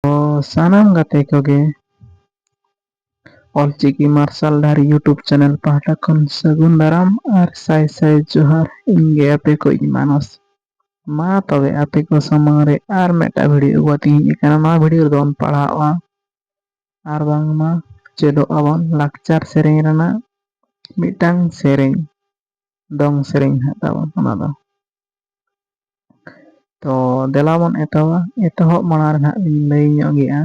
ᱚ ᱥᱟᱱᱟᱢ ᱜᱟᱛᱮ ᱠᱚᱜᱮ ᱚᱞ ᱪᱤᱠᱤ ᱢᱟᱨᱥᱟᱞ ᱫᱷᱟᱨᱤ ᱭᱩᱴᱩᱵᱽ ᱪᱮᱱᱮᱞ ᱯᱟᱦᱴᱟ ᱠᱷᱚᱱ ᱥᱟᱹᱜᱩᱱ ᱫᱟᱨᱟᱢ ᱟᱨ ᱥᱟᱭ ᱥᱟᱭ ᱡᱚᱦᱟᱨ ᱤᱧ ᱜᱮ ᱟᱯᱮ ᱠᱚ ᱤᱡ ᱢᱟᱱᱚᱥ ᱢᱟ ᱛᱚᱵᱮ ᱟᱯᱮ ᱠᱚ ᱥᱟᱢᱟᱝ ᱨᱮ ᱟᱨ ᱢᱤᱫᱴᱟᱝ ᱵᱷᱤᱰᱭᱳ ᱟᱹᱜᱩ ᱠᱟᱛᱮ ᱤᱧ ᱦᱮᱡ ᱟᱠᱟᱱᱟ ᱱᱚᱣᱟ ᱵᱷᱤᱰᱭᱳ ᱨᱮᱫᱚ ᱵᱚᱱ ᱯᱟᱲᱦᱟᱣᱼᱟ ᱟᱨ ᱵᱟᱝᱢᱟ ᱪᱮᱫᱚᱜ ᱟᱵᱚᱱ ᱞᱟᱠᱪᱟᱨ ᱥᱮᱨᱮᱧ ᱨᱮᱱᱟᱜ ᱢᱤᱫᱴᱟᱝ ᱥᱮᱨᱮᱧ ᱫᱚᱝ ᱥᱮᱨᱮᱧ ᱦᱟᱸᱜ ᱛᱟᱵᱚᱱ ᱚᱱᱟ ᱫᱚ ᱛᱚ ᱫᱮᱞᱟ ᱵᱚᱱ ᱮᱛᱚᱦᱚᱵᱟ ᱮᱛᱚᱦᱚᱵ ᱢᱟᱲᱟᱝ ᱨᱮ ᱦᱟᱸᱜ ᱞᱤᱧ ᱞᱟᱹᱭ ᱧᱚᱜ ᱜᱮᱭᱟ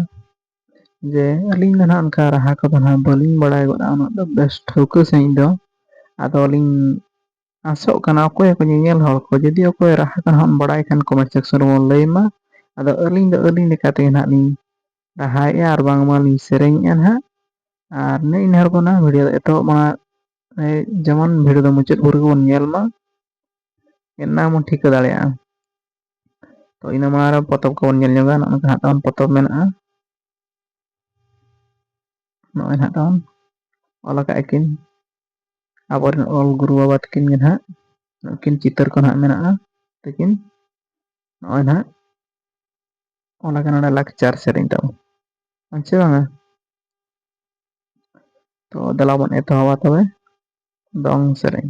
ᱡᱮ ᱟᱹᱞᱤᱧ ᱫᱚ ᱱᱟᱜ ᱚᱱᱠᱟ ᱨᱟᱦᱟ ᱠᱚᱫᱚ ᱱᱟᱜ ᱵᱟᱹᱞᱤᱧ ᱵᱟᱲᱟᱭ ᱜᱚᱫᱼᱟ ᱩᱱᱟᱹᱜ ᱫᱚ ᱵᱮᱥ ᱴᱷᱟᱹᱣᱠᱟᱹ ᱥᱟᱺᱦᱤᱡ ᱫᱚ ᱟᱫᱚ ᱞᱤᱧ ᱟᱥᱚᱜ ᱠᱟᱱᱟ ᱚᱠᱚᱭ ᱠᱚ ᱧᱮᱧᱮᱞ ᱦᱚᱲ ᱠᱚ ᱡᱩᱫᱤ ᱚᱠᱚᱭ ᱨᱟᱦᱟ ᱠᱚ ᱦᱟᱸᱜ ᱵᱟᱲᱟᱭ ᱠᱷᱟᱱ ᱠᱚᱢᱮᱱᱴ ᱥᱮᱠᱥᱚᱱ ᱨᱮᱵᱚᱱ ᱞᱟᱹᱭ ᱢᱟ ᱟᱫᱚ ᱟᱹᱞᱤᱧ ᱫᱚ ᱟᱹᱞᱤᱧ ᱞᱮᱠᱟ ᱛᱮᱜᱮ ᱱᱟᱜ ᱞᱤᱧ ᱨᱟᱦᱟᱭᱮᱫᱼᱟ ᱟᱨ ᱵᱟᱝᱢᱟ ᱞᱤᱧ ᱥᱮᱨᱮᱧᱮᱫᱼᱟ ᱱᱟᱜ ᱟᱨ ᱱᱮᱜᱼᱮ ᱱᱤᱭᱟᱹ ᱦᱚᱲ ᱠᱚ ᱱᱟᱜ ᱵᱷᱤᱰᱤᱭᱳ ᱮᱛᱚᱦᱚᱵ ᱢᱟᱲᱟᱝ ᱡᱮᱢᱚᱱ ᱵᱷᱤᱰᱤᱭᱳ ᱫᱚ ᱢᱩᱪᱟᱹᱫ ᱵᱷᱳᱨ ᱜᱮᱵᱚᱱ ᱧᱮᱞ ᱢᱟ ᱚᱱᱟ ᱵᱚᱱ ᱴᱷᱤᱠᱟᱹ ᱫᱟᱲᱮᱭᱟᱜᱼᱟ ᱛᱚ ᱤᱱᱟᱹ ᱢᱟᱲᱟᱝ ᱨᱮ ᱯᱚᱛᱚᱵ ᱠᱚᱵᱚᱱ ᱧᱮᱞ ᱧᱚᱜᱟ ᱱᱚᱜᱼᱚ ᱱᱚᱝᱠᱟ ᱦᱟᱸᱜ ᱛᱟᱵᱚᱱ ᱯᱚᱛᱚᱵ ᱢᱮᱱᱟᱜᱼᱟ ᱱᱚᱜᱼᱚᱭ ᱱᱟᱦᱟᱜ ᱛᱟᱵᱚᱱ ᱚᱞ ᱟᱠᱟᱫ ᱟᱹᱠᱤᱱ ᱟᱵᱚᱨᱮᱱ ᱚᱞ ᱜᱩᱨᱩ ᱵᱟᱵᱟ ᱛᱟᱹᱠᱤᱱ ᱜᱮ ᱱᱟᱦᱟᱜ ᱱᱩᱠᱤᱱ ᱪᱤᱛᱟᱹᱨ ᱠᱚ ᱱᱟᱦᱟᱜ ᱢᱮᱱᱟᱜᱼᱟ ᱛᱟᱹᱠᱤᱱ ᱱᱚᱜᱼᱚᱭ ᱱᱟᱦᱟᱜ ᱚᱱᱟ ᱠᱟᱱᱟ ᱱᱚᱰᱮ ᱞᱟᱠᱪᱟᱨ ᱥᱮᱨᱮᱧ ᱛᱟᱵᱚᱱ ᱟᱪᱪᱷᱟ ᱵᱟᱝᱟ ᱛᱚ ᱫᱮᱞᱟ ᱵᱚᱱ ᱮᱛᱚᱦᱚᱵᱟ ᱛᱚᱵᱮ ᱫᱚᱝ ᱥᱮᱨᱮᱧ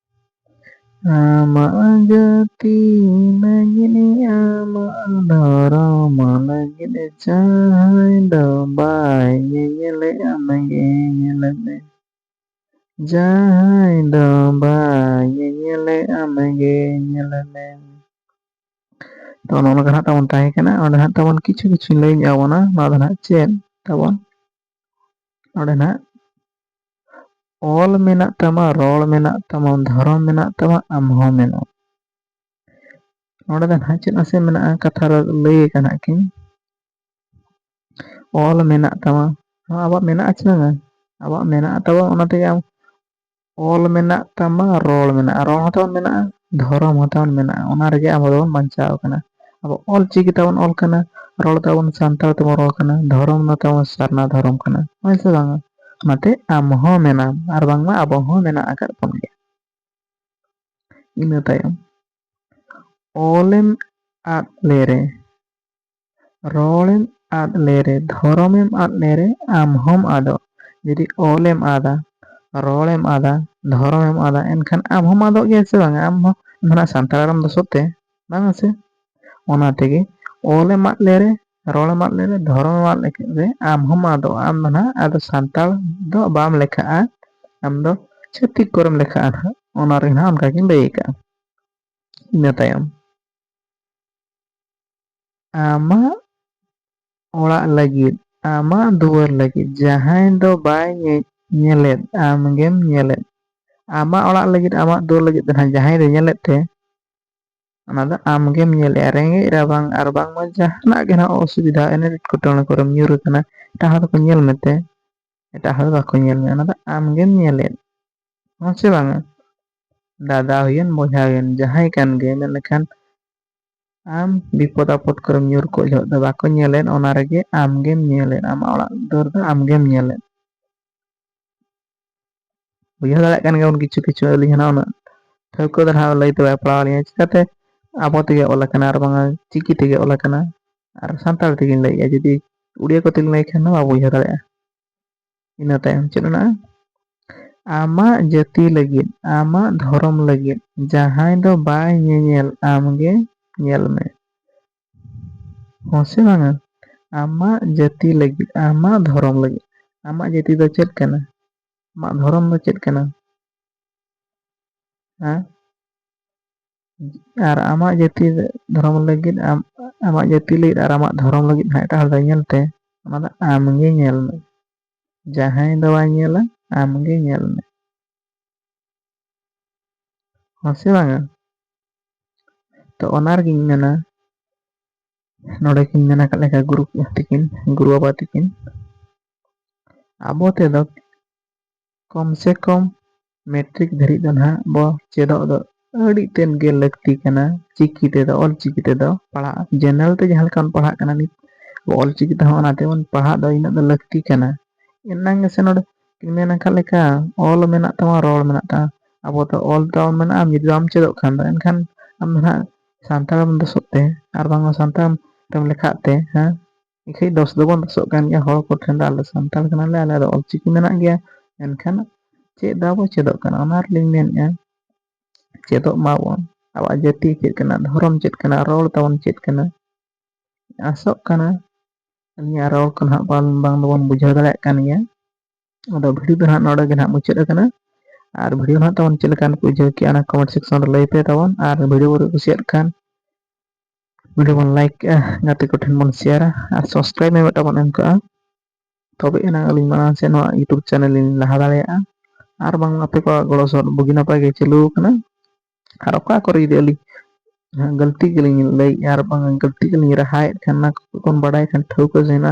ᱟᱢᱟᱜ ᱡᱟᱹᱛᱤ ᱞᱟᱹᱜᱤᱫ ᱟᱢᱟᱜ ᱫᱷᱚᱨᱚᱢ ᱞᱟᱹᱜᱤᱫ ᱡᱟᱦᱟᱸᱭ ᱫᱚ ᱵᱟᱭ ᱧᱮᱧᱮᱞᱮ ᱟᱢ ᱜᱮ ᱧᱮᱞ ᱢᱮ ᱡᱟᱦᱟᱸᱭ ᱫᱚ ᱵᱟᱭ ᱧᱮᱧᱮᱞᱮ ᱟᱢ ᱜᱮ ᱧᱮᱞ ᱢᱮ ᱛᱚ ᱱᱚᱜᱼᱚ ᱱᱚᱝᱠᱟ ᱦᱟᱸᱜ ᱛᱟᱵᱚᱱ ᱛᱟᱦᱮᱸ ᱠᱟᱱᱟ ᱚᱸᱰᱮ ᱦᱟᱸᱜ ᱛᱟᱵᱚᱱ ᱠᱤᱪᱷᱩ ᱠᱤᱪᱷᱩ ᱞᱟᱹᱭ ᱧᱚᱜ ᱟᱵᱚᱱᱟ ᱱᱚᱣᱟ ᱫᱚ ᱦᱟᱸᱜ ᱪᱮᱫ ᱛᱟᱵᱚᱱ ᱚᱸᱰᱮ ᱱᱟᱜ ᱚᱞ ᱢᱮᱱᱟᱜ ᱛᱟᱢᱟ ᱨᱚᱲ ᱢᱮᱱᱟᱜ ᱛᱟᱢᱟ ᱫᱷᱚᱨᱚᱢ ᱢᱮᱱᱟᱜ ᱛᱟᱢᱟ ᱟᱢ ᱦᱚᱸ ᱢᱮᱱᱟᱢ ᱱᱚᱸᱰᱮ ᱫᱚ ᱱᱟᱦᱟᱜ ᱪᱮᱫ ᱱᱟᱥᱮ ᱢᱮᱱᱟᱜᱼᱟ ᱠᱟᱛᱷᱟ ᱨᱮ ᱞᱟᱹᱭ ᱟᱠᱟᱱᱟ ᱠᱤᱱ ᱚᱞ ᱢᱮᱱᱟᱜ ᱛᱟᱢᱟ ᱟᱵᱚᱣᱟᱜ ᱢᱮᱱᱟᱜᱼᱟ ᱪᱮ ᱵᱟᱝᱟ ᱟᱵᱚᱣᱟᱜ ᱢᱮᱱᱟᱜ ᱛᱟᱵᱚ ᱚᱱᱟ ᱛᱮᱜᱮ ᱟᱢ ᱚᱞ ᱢᱮᱱᱟᱜ ᱛᱟᱢᱟ ᱨᱚᱲ ᱢᱮᱱᱟᱜᱼᱟ ᱨᱚᱲ ᱦᱚᱸ ᱛᱟᱵᱚᱱ ᱢᱮᱱᱟᱜᱼᱟ ᱫᱷᱚᱨᱚᱢ ᱦᱚᱸ ᱛᱟᱵᱚᱱ ᱢᱮᱱᱟᱜᱼᱟ ᱚᱱᱟ ᱨᱮᱜᱮ ᱟᱵᱚ ᱫᱚᱵᱚᱱ ᱵᱟᱧᱪᱟᱣ ᱠᱟᱱᱟ ᱟᱵᱚ ᱚᱞ ᱪᱤᱠᱤ ᱛᱮᱵᱚᱱ ᱚᱞ ᱠᱟᱱᱟ ᱨᱚᱲ ᱛᱟᱵᱚᱱ ᱥᱟᱱᱛᱟᱲ ᱛᱮᱵᱚᱱ ᱨᱚᱲ ᱠᱟᱱᱟ ᱫᱷᱚᱨᱚᱢ ᱫᱚ ᱛᱟᱵᱚᱱ ᱥᱟᱨᱱᱟ ᱫᱷᱚᱨᱚᱢ ᱠᱟᱱᱟ ᱦᱳᱭ ᱥᱮ ᱵᱟᱝᱟ ᱚᱱᱟᱛᱮ ᱟᱢ ᱦᱚᱸ ᱢᱮᱱᱟᱢ ᱟᱨ ᱵᱟᱝᱢᱟ ᱟᱵᱚ ᱦᱚᱸ ᱢᱮᱱᱟᱜ ᱟᱠᱟᱫ ᱵᱚᱱ ᱜᱮᱭᱟ ᱤᱱᱟᱹ ᱛᱟᱭᱚᱢ ᱚᱞᱮᱢ ᱟᱫ ᱞᱮᱨᱮ ᱨᱚᱲᱮᱢ ᱟᱫ ᱞᱮᱨᱮ ᱫᱷᱚᱨᱚᱢᱮᱢ ᱟᱫ ᱞᱮᱨᱮ ᱟᱢ ᱦᱚᱢ ᱟᱫᱚᱜ ᱡᱩᱫᱤ ᱚᱞᱮᱢ ᱟᱫᱟ ᱨᱚᱲᱮᱢ ᱟᱫᱟ ᱫᱷᱚᱨᱚᱢᱮᱢ ᱟᱫᱟ ᱮᱱᱠᱷᱟᱱ ᱟᱢ ᱦᱚᱢ ᱟᱫᱚᱜ ᱜᱮᱭᱟ ᱥᱮ ᱵᱟᱝ ᱟᱢ ᱦᱚᱸ ᱱᱟᱦᱟᱜ ᱥᱟᱱᱛᱟᱲ ᱟᱲᱟᱝ ᱫᱚ ᱥᱚᱛᱮ ᱵᱟᱝ ᱥᱮ ᱚᱱᱟ ᱛᱮᱜᱮ ᱚᱞᱮᱢ ᱟᱫ ᱞᱮᱨᱮ ᱨᱚᱲᱮᱢ ᱟᱫ ᱞᱮᱨᱮ ᱫᱷᱚᱨᱚᱢᱮᱢ ᱟᱫ ᱞᱮᱨᱮ ᱟᱢ ᱦᱚᱢ ᱟᱫᱚᱜ ᱟᱢ ᱫᱚ ᱱᱟᱦᱟᱜ ᱟᱫᱚ ᱥᱟᱱᱛᱟᱲ ᱫᱚ ᱵᱟᱢ ᱞᱮᱠᱷᱟᱜᱼᱟ ᱟᱢ ᱫᱚ ᱪᱷᱟᱹᱛᱤᱠ ᱠᱚᱨᱮᱢ ᱞᱮᱠᱷᱟᱜᱼᱟ ᱱᱟᱦᱟᱜ ᱚᱱᱟ ᱨᱮ ᱱᱟᱦᱟᱜ ᱚᱱᱠᱟ ᱜᱤᱧ ᱞᱟᱹᱭ ᱟᱠᱟᱜᱼᱟ ᱤᱱᱟᱹ ᱛᱟᱭᱚᱢ ᱟᱢᱟᱜ ᱚᱲᱟᱜ ᱞᱟᱹᱜᱤᱫ ᱟᱢᱟᱜ ᱫᱩᱣᱟᱹᱨ ᱞᱟᱹᱜᱤᱫ ᱡᱟᱦᱟᱸᱭ ᱫᱚ ᱵᱟᱭ ᱧᱮᱡ ᱧᱮᱞᱮᱫ ᱟᱢ ᱜᱮᱢ ᱧᱮᱞᱮᱫ ᱟᱢᱟᱜ ᱚᱲᱟᱜ ᱞᱟᱹᱜᱤᱫ ᱟᱢᱟᱜ ᱫᱩᱣᱟᱹᱨ ᱞᱟᱹᱜᱤᱫ ᱫᱚ ᱱᱟᱦᱟᱜ ᱡᱟᱦᱟᱸᱭ ᱫᱚ ᱧᱮᱞᱮᱫ ᱛᱮ ᱚᱱᱟ ᱫᱚ ᱟᱢ ᱜᱮᱢ ᱧᱮᱞᱮᱜᱼᱟ ᱨᱮᱸᱜᱮᱡ ᱨᱟᱵᱟᱝ ᱟᱨ ᱵᱟᱝᱢᱟ ᱡᱟᱦᱟᱱᱟᱜ ᱜᱮ ᱱᱟᱦᱟᱜ ᱚᱥᱩᱵᱤᱫᱷᱟ ᱮᱱᱮᱴ ᱮᱴᱠᱮᱴᱚᱬᱮ ᱠᱚᱨᱮᱢ ᱧᱩᱨ ᱟᱠᱟᱱᱟ ᱮᱴᱟᱜ ᱦᱚᱲ ᱫᱚᱠᱚ ᱧᱮᱞ ᱢᱮᱛᱮ ᱮᱴᱟᱜ ᱦᱚᱲ ᱫᱚ ᱵᱟᱠᱚ ᱧᱮᱞ ᱢᱮᱭᱟ ᱚᱱᱟ ᱫᱚ ᱟᱢ ᱜᱮᱢ ᱧᱮᱞᱮᱫ ᱦᱮᱸ ᱥᱮ ᱵᱟᱝᱟ ᱫᱟᱫᱟ ᱦᱩᱭᱮᱱ ᱵᱚᱭᱦᱟ ᱦᱩᱭᱮᱱ ᱡᱟᱦᱟᱸᱭ ᱠᱟᱱ ᱜᱮ ᱢᱮᱱ ᱞᱮᱠᱷᱟᱱ ᱟᱢ ᱵᱤᱯᱚᱫ ᱟᱯᱚᱫ ᱠᱚᱨᱮᱢ ᱧᱩᱨ ᱠᱚᱜ ᱡᱚᱦᱚᱜ ᱫᱚ ᱵᱟᱠᱚ ᱧᱮᱞᱮᱫ ᱚᱱᱟ ᱨᱮᱜᱮ ᱟᱢᱜᱮᱢ ᱧᱮᱞᱮᱫ ᱟᱢᱟᱜ ᱚᱲᱟᱜ ᱫᱩᱣᱟᱹᱨ ᱫᱚ ᱟᱢᱜᱮᱢ ᱧᱮᱞᱮᱫ ᱵᱩᱡᱷᱟᱹᱣ ᱫᱟᱲᱮᱭᱟᱜ ᱠᱟᱱ ᱜᱮᱭᱟᱵᱚᱱ ᱠᱤᱪᱷᱩ ᱠᱤᱪᱷᱩ ᱟᱹᱞᱤᱧ ᱦᱚᱸ ᱩᱱᱟᱹᱜ ᱴᱷᱟᱹᱣᱠᱟᱹ ᱫᱚ ᱱᱟᱦᱟᱜ ᱞᱟᱹᱭ ᱛᱮ ᱵᱟᱭ ᱯᱟᱲᱟᱣ ᱟᱹᱞᱤᱧᱟ ᱪᱤᱠᱟᱛᱮ ᱟᱵᱚ ᱛᱮᱜᱮ ᱚᱞ ᱟᱠᱟᱱᱟ ᱟᱨ ᱵᱟᱝᱟ ᱪᱤᱠᱤ ᱛᱮᱜᱮ ᱚᱞ ᱟᱠᱟᱱᱟ ᱟᱨ ᱥᱟᱱᱛᱟᱲ ᱛᱮᱜᱮᱧ ᱞᱟᱹᱭᱮᱫᱼᱟ ᱡᱩᱫᱤ ᱩᱲᱤᱭᱟ ᱠᱚᱛᱮᱧ ᱞᱟᱹᱭ ᱠᱷᱟᱱ ᱫᱚ ᱵᱟᱵᱚ ᱵᱩᱡᱷᱟᱹᱣ ᱫᱟᱲᱮᱭᱟᱜᱼᱟ ᱤᱱᱟᱹ ᱛᱟᱭᱚᱢ ᱪᱮᱫ ᱢᱮᱱᱟᱜᱼᱟ ᱟᱢᱟᱜ ᱡᱟᱹᱛᱤ ᱞᱟᱹᱜᱤᱫ ᱟᱢᱟᱜ ᱫᱷᱚᱨᱚᱢ ᱞᱟᱹᱜᱤᱫ ᱡᱟᱦᱟᱸᱭ ᱫᱚ ᱵᱟᱭ ᱧᱮᱧᱮᱞ ᱟᱢᱜᱮ ᱧᱮᱞ ᱢᱮ ᱦᱚᱸ ᱥᱮ ᱵᱟᱝᱟ ᱟᱢᱟᱜ ᱡᱟᱹᱛᱤ ᱞᱟᱹᱜᱤᱫ ᱟᱢᱟᱜ ᱫᱷᱚᱨᱚᱢ ᱞᱟᱹᱜᱤᱫ ᱟᱢᱟᱜ ᱡᱟᱹᱛᱤ ᱫᱚ ᱪᱮᱫ ᱠᱟᱱᱟ ᱟᱢᱟᱜ ᱫᱷᱚᱨᱚᱢ ᱫᱚ ᱪᱮᱫ ᱠᱟᱱᱟ ᱦᱮᱸ ᱟᱨ ᱟᱢᱟᱜ ᱡᱟᱹᱛᱤ ᱫᱷᱚᱨᱚᱢ ᱞᱟᱹᱜᱤᱫ ᱟᱢ ᱟᱢᱟᱜ ᱡᱟᱹᱛᱤ ᱞᱟᱹᱜᱤᱫ ᱟᱨ ᱟᱢᱟᱜ ᱫᱷᱚᱨᱚᱢ ᱞᱟᱹᱜᱤᱫ ᱦᱟᱸᱜ ᱮᱴᱟᱜ ᱦᱚᱲ ᱫᱚᱭ ᱧᱮᱞ ᱛᱮ ᱚᱱᱟ ᱫᱚ ᱟᱢᱜᱮ ᱧᱮᱞ ᱢᱮ ᱡᱟᱦᱟᱸᱭ ᱫᱚ ᱵᱟᱭ ᱧᱮᱞᱟ ᱟᱢᱜᱮ ᱧᱮᱞ ᱢᱮ ᱦᱚᱸ ᱥᱮ ᱵᱟᱝᱟ ᱛᱚ ᱚᱱᱟ ᱨᱮᱜᱤᱧ ᱢᱮᱱᱟ ᱱᱚᱰᱮ ᱠᱤᱱ ᱢᱮᱱ ᱟᱠᱟᱫ ᱞᱮᱠᱟ ᱜᱩᱨᱩ ᱛᱤᱠᱤᱱ ᱜᱩᱨᱩ ᱵᱟᱵᱟ ᱛᱤᱠᱤᱱ ᱟᱵᱚ ᱛᱮᱫᱚ ᱠᱚᱢ ᱥᱮ ᱠᱚᱢ ᱢᱮᱴᱨᱤᱠ ᱫᱷᱟᱹᱨᱤᱡ ᱫᱚ ᱱᱟᱦᱟᱜ ᱵᱚ ᱪᱮᱫᱚᱜ ᱫᱚ ᱟᱹᱰᱤ ᱛᱮᱫ ᱜᱮ ᱞᱟᱹᱠᱛᱤ ᱠᱟᱱᱟ ᱪᱤᱠᱤ ᱛᱮᱫᱚ ᱚᱞ ᱪᱤᱠᱤ ᱛᱮᱫᱚ ᱯᱟᱲᱦᱟᱜ ᱡᱮᱱᱟᱨᱮᱞ ᱛᱮ ᱡᱟᱦᱟᱸ ᱞᱮᱠᱟ ᱵᱚᱱ ᱯᱟᱲᱦᱟᱜ ᱠᱟᱱᱟ ᱱᱤᱛ ᱚᱞ ᱪᱤᱠᱤ ᱛᱮᱦᱚᱸ ᱚᱱᱟ ᱛᱮᱵᱚᱱ ᱯᱟᱲᱦᱟᱜ ᱫᱚ ᱤᱱᱟᱹᱜ ᱫᱚ ᱞᱟᱹᱠᱛᱤ ᱠᱟᱱᱟ ᱮᱱᱟᱝ ᱜᱮᱥᱮ ᱱᱚᱰᱮ ᱢᱮᱱ ᱟᱠᱟᱫ ᱞᱮᱠᱟ ᱚᱞ ᱢᱮᱱᱟᱜ ᱛᱟᱢᱟ ᱨᱚᱲ ᱢᱮᱱᱟᱜ ᱛᱟᱢᱟ ᱟᱵᱚ ᱫᱚ ᱚᱞ ᱛᱟᱵ ᱢᱮᱱᱟᱜᱼᱟ ᱡᱩᱫᱤ ᱵᱟᱢ ᱪᱮᱫᱚᱜ ᱠᱷᱟᱱ ᱫᱚ ᱮᱱᱠᱷᱟᱱ ᱟᱢ ᱫᱚ ᱱᱟᱦᱟᱜ ᱥᱟᱱᱛᱟᱲ ᱫᱚᱥᱚᱜ ᱛᱮ ᱟᱨ ᱵᱟᱝᱢᱟ ᱥᱟᱱᱛᱟᱲ ᱛᱮᱢ ᱞᱮᱠᱷᱟᱜ ᱛᱮ ᱦᱮᱸ ᱮᱱᱠᱷᱟᱹᱡ ᱫᱚᱥ ᱫᱚᱵᱚᱱ ᱫᱚᱥᱚᱜ ᱠᱟᱱ ᱜᱮᱭᱟ ᱦᱚᱲ ᱠᱚᱴᱷᱮᱱ ᱫᱚ ᱟᱞᱮ ᱥᱟᱱᱛᱟᱲ ᱠᱟᱱᱟᱞᱮ ᱟᱞᱮ ᱫᱚ ᱚᱞᱪᱤᱠᱤ ᱢᱮᱱᱟᱜ ᱜᱮᱭᱟ ᱮᱱᱠᱷᱟᱱ ᱪᱮᱫ ᱫᱚ ᱟᱵᱚ ᱪᱮᱫᱚᱜ ᱠᱟᱱᱟ ᱚᱱᱟ ᱨᱮᱞᱤᱧ ᱢᱮᱱᱮᱫᱼᱟ ᱪᱮᱫᱚᱜ ᱢᱟᱵᱚᱱ ᱟᱵᱚᱣᱟᱜ ᱡᱟᱹᱛᱤ ᱪᱮᱫ ᱠᱟᱱᱟ ᱫᱷᱚᱨᱚᱢ ᱪᱮᱫ ᱠᱟᱱᱟ ᱨᱚᱲ ᱛᱟᱵᱚᱱ ᱪᱮᱫ ᱠᱟᱱᱟ ᱟᱥᱚᱜ ᱠᱟᱱᱟ ᱟᱹᱞᱤᱧᱟᱜ ᱨᱚᱲ ᱠᱚ ᱱᱟᱦᱟᱜ ᱵᱟᱝ ᱵᱟᱝ ᱫᱚᱵᱚᱱ ᱵᱩᱡᱷᱟᱹᱣ ᱫᱟᱲᱮᱭᱟᱜ ᱠᱟᱱ ᱜᱮᱭᱟ ᱟᱫᱚ ᱵᱷᱤᱰᱤᱭᱳ ᱫᱚ ᱱᱟᱦᱟᱜ ᱱᱚᱰᱮ ᱜᱮ ᱱᱟᱦᱟᱜ ᱢᱩᱪᱟᱹᱫ ᱟᱠᱟᱱᱟ ᱟᱨ ᱵᱷᱤᱰᱤᱭᱳ ᱱᱟᱦᱟᱜ ᱛᱟᱵᱚᱱ ᱪᱮᱫ ᱞᱮᱠᱟᱱ ᱠᱚ ᱵᱩᱡᱷᱟᱹᱣ ᱠᱮᱜᱼᱟ ᱚᱱᱟ ᱠᱚᱢᱮᱱᱴ ᱥᱮᱠᱥᱚᱱ ᱨᱮ ᱞᱟᱹᱭ ᱯᱮ ᱛᱟᱵᱚᱱ ᱟᱨ ᱵᱷᱤᱰᱤᱭᱳ ᱠᱚ ᱠᱩᱥᱤᱭᱟᱜ ᱠᱷᱟᱱ ᱵᱷᱤᱰᱤᱭᱳ ᱵᱚᱱ ᱞᱟᱭᱤᱠ ᱠᱮᱜᱼᱟ ᱜᱟᱛᱮ ᱠᱚᱴᱷᱮᱱ ᱵᱚᱱ ᱥᱮᱭᱟᱨᱟ ᱟᱨ ᱥᱟᱵᱥᱠᱨᱟᱭᱤᱵᱽ ᱢᱮ ᱢᱤᱫᱴᱟᱝ ᱵᱚᱱ ᱮᱢ ᱠᱟᱜᱼᱟ ᱛᱚᱵᱮ ᱮᱱᱟᱝ ᱟᱹᱞᱤᱧ ᱢᱟᱲᱟᱝ ᱥᱮᱫ ᱱᱚᱣᱟ ᱤᱭᱩᱴᱩᱵᱽ ᱪᱮᱱᱮᱞ ᱞᱤᱧ ᱞᱟᱦᱟ ᱫᱟᱲᱮᱭᱟᱜᱼᱟ ᱟᱨ ᱵᱟᱝ ᱟᱯᱮ ᱠᱚᱣᱟᱜ ᱜᱚᱲᱚ ᱥᱚᱦᱚᱫ ᱵᱩᱜᱤ ᱱᱟᱯᱟᱭ ᱜᱮ ᱪᱟᱹᱞᱩ ᱟᱠᱟᱱᱟ ᱟᱨ ᱚᱠᱟ ᱠᱚᱨᱮ ᱡᱩᱫᱤ ᱟᱹᱞᱤᱧ ᱡᱟᱦᱟᱸ ᱜᱟᱹᱞᱛᱤ ᱜᱮᱞᱤᱧ ᱞᱟᱹᱭᱮᱫᱼᱟ ᱟᱨ ᱵᱟᱝ ᱜᱟᱹᱞᱛᱤ ᱜᱮᱞᱤᱧ ᱨᱟᱦᱟᱭᱮᱫ ᱠᱷᱟᱱ ᱚᱱᱟ ᱠᱚᱵᱚᱱ ᱵᱟᱰᱟᱭ ᱠᱷᱟᱱ ᱴᱷᱟᱹᱣᱠᱟᱹ ᱡᱮᱱᱟ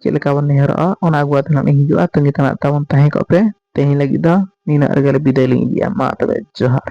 ᱪᱮᱫ ᱞᱮᱠᱟ ᱵᱚᱱ ᱱᱮᱦᱚᱨᱚᱜᱼᱟ ᱚᱱᱟ ᱟᱹᱜᱩ ᱟᱛᱮ ᱱᱟᱜ ᱞᱤᱧ ᱦᱤᱡᱩᱜᱼᱟ ᱛᱟᱹᱝᱜᱤ ᱛᱟᱲᱟᱜ ᱛᱟᱵᱚᱱ ᱛᱟᱦᱮᱸ ᱠᱚᱜ ᱯᱮ ᱛᱮᱦᱮᱧ ᱞᱟᱹᱜᱤᱫ ᱫᱚ ᱱᱤᱱᱟᱹᱜ ᱨᱮᱜᱮ ᱵᱤᱫᱟᱹᱭ ᱞᱤᱧ ᱤᱫᱤᱭᱟ ᱢᱟ ᱛᱚᱵᱮ ᱡᱚᱦᱟᱨ